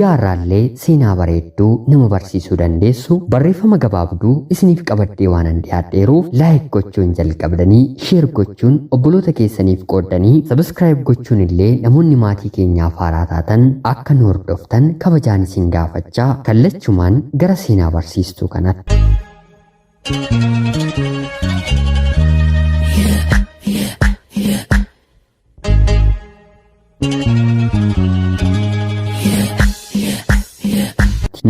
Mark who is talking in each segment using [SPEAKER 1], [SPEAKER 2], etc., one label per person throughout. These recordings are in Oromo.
[SPEAKER 1] Guyyaa har'aallee seenaa bareedduu nama barsiisuu dandeessu barreeffama gabaabduu isiniif qabadhee waanan dhiyaadheeruuf like gochuun jalqabdanii share gochuun obboloota keessaniif qooddanii subscribe gochuun illee namoonni maatii keenyaaf haaraa taatan akka nu hordoftan kabajaan isin gaafachaa kallachumaan gara seenaa barsiistuu kanatti.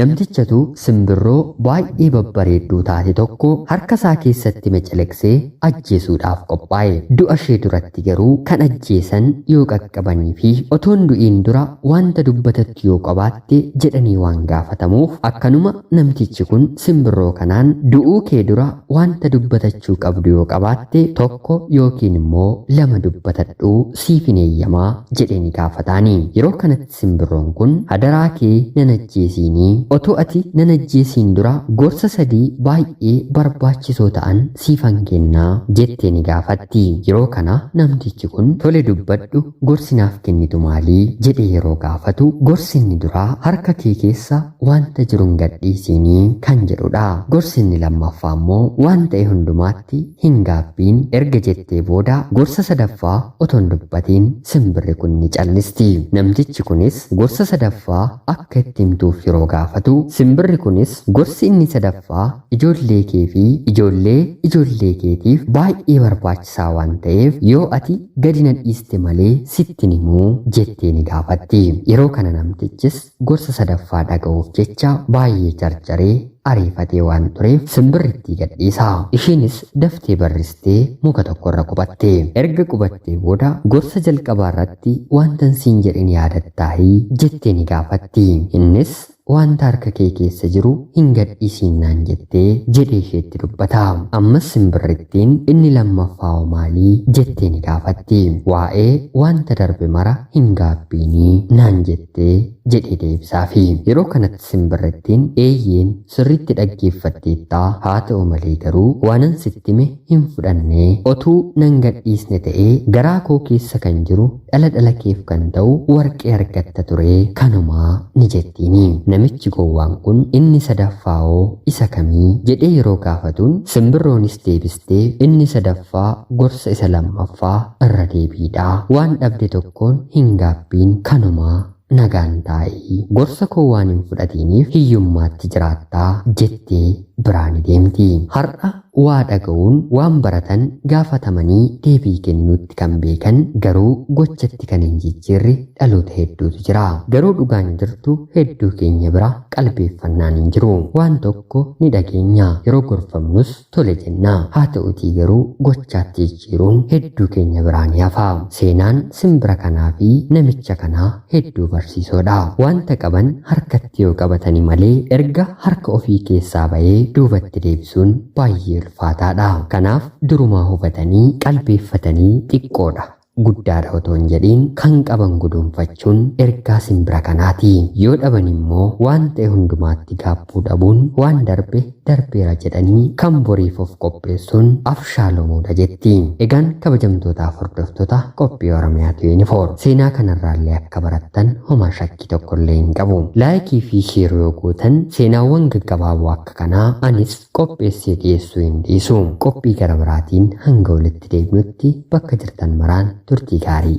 [SPEAKER 1] Namtichatu simbirroo baay'ee babbareedduu taate tokko harka isaa keessatti meceleqsee ajjeesuudhaaf qophaa'e. Du'a ishee duratti garuu kan ajjeesan yoo qaqqabanii fi otoon du'iin dura wanta dubbatattu yoo qabaatte Ati jedhanii waan gaafatamuuf akkanuma namtichi kun simbirroo kanaan du'uu kee dura wanta dubbatachuu qabdu yoo qabaatte tokko yookiin immoo lama dubbatadhu siifin eeyyama jedheeni gaafataani yeroo kanatti simbirroon kun hadaraa kee nan ajjeesiini otuu ati nan ajjeesiin dura gorsa sadii baay'ee barbaachisoo ta'an siifan kenna jettee ni gaafatti. Yeroo kana namtichi kun tole dubbadhu gorsi naaf kennitu maali? jedhee yeroo gaafatu gorsi inni duraa harka kee keessa waanta jiru hin gadhiisiini kan jedhudha. Gorsi inni lammaffaa immoo waan ta'e hundumaatti hin gaabbiin erga jettee booda gorsa sadaffaa otoo hin dubbatiin simbirri kun ni callisti. Namtichi kunis gorsa sadaffaa akka itti himtuuf yeroo gaafatu simbirri kunis gorsi inni sadaffaa ijoollee kee fi ijoollee ijoollee keetiif baay'ee barbaachisaa waan ta'eef yoo ati gadi na dhiiste malee sitti hin himu jettee ni gaafatti. Yeroo kana namtichis gorsa sadaffaa dhaga'uuf jecha baay'ee jarjaree ariifatee waan tureef simbirrittii gad dhiisa. Ishiinis daftee barristee muka tokko irra qubatte. Erga qubattee booda gorsa jalqabaa irratti waantan siin jedhe ni yaadattaahi? jettee ni gaafatti. Innis Wanta harka kee keessa jiru hin gadhiisiin naan jette, jedhee isheetti dubbata. Ammas simbirrittiin, Inni lammaffaa hoo maali? jettee ni gaafatti. Waa'ee wanta darbe mara hin gaabbiini naan jette, jedhee deebisaafi. Yeroo kanatti simbirrittiin, Eeyyeen, sirriitti dhaggeeffatteetta, haa ta'u malee garuu waanan sitti hime hin fudhanne. Otuu nan gadhiisne ta'ee garaa koo keessa kan jiru Dhala dhala keef kan ta'u warqee argatta ture kanuma ni jettiini. Namichi gowwaan kun inni sadaffaahoo isa kami? jedhee yeroo gaafatuun simbirroonis deebistee inni sadaffaa gorsa isa lammaffaa irra deebiidha. Waan dhabde tokkoon hin gaabbiin kanuma Nagaan taa'i. Gorsa koo waan hin fudhatiiniif hiyyummaatti jiraatta, jettee biraa ni deemti. Har'a waa dhaga'uun waan baratan gaafatamanii deebii kennuutti kan beekan garuu gochatti kan hin jijjiirre dhaloota hedduutu jira. Garuu dhugaan jirtu hedduu keenya bira qalbeeffannaan hin jiru. Waan tokko ni dhageenya, yeroo gorfamnus tole jenna. Haa ta'utii garuu gochaatti jijjiiruun hedduu keenya biraa ni hafa. Seenaan simbira kanaa fi namicha kanaa hedduu barsiisoo dha. Wanta qaban harkatti yoo qabatani malee erga harka ofii keessaa ba'ee duubatti deebisuun baay'ee ulfaataa dha. Kanaaf durumaa hubatanii qalbeeffatanii xiqqoo dha. guddaadha otoo hin jedhiin kan qaban guduunfachuun ergaa simbira kanaati. Yoo dhaban immoo waan ta'e hundumaatti gaabbuu dhabuun waan darbe darbeera jedhanii kan boriif of qopheessuun afshaalomuudha jetti. Egaan kabajamtootaaf hordoftota qophii Oromiyaa 24 seenaa kanarraallee akka barattan homaa shakkii tokkollee hin qabu. Like fi share yoo gootan seenaawwan gaggabaaboo akka kanaa anis qopheessee dhiyeessuu hin dhiisu. Qophii gara biraatiin hanga walitti deebinutti bakka jirtan maraan turtii gaarii.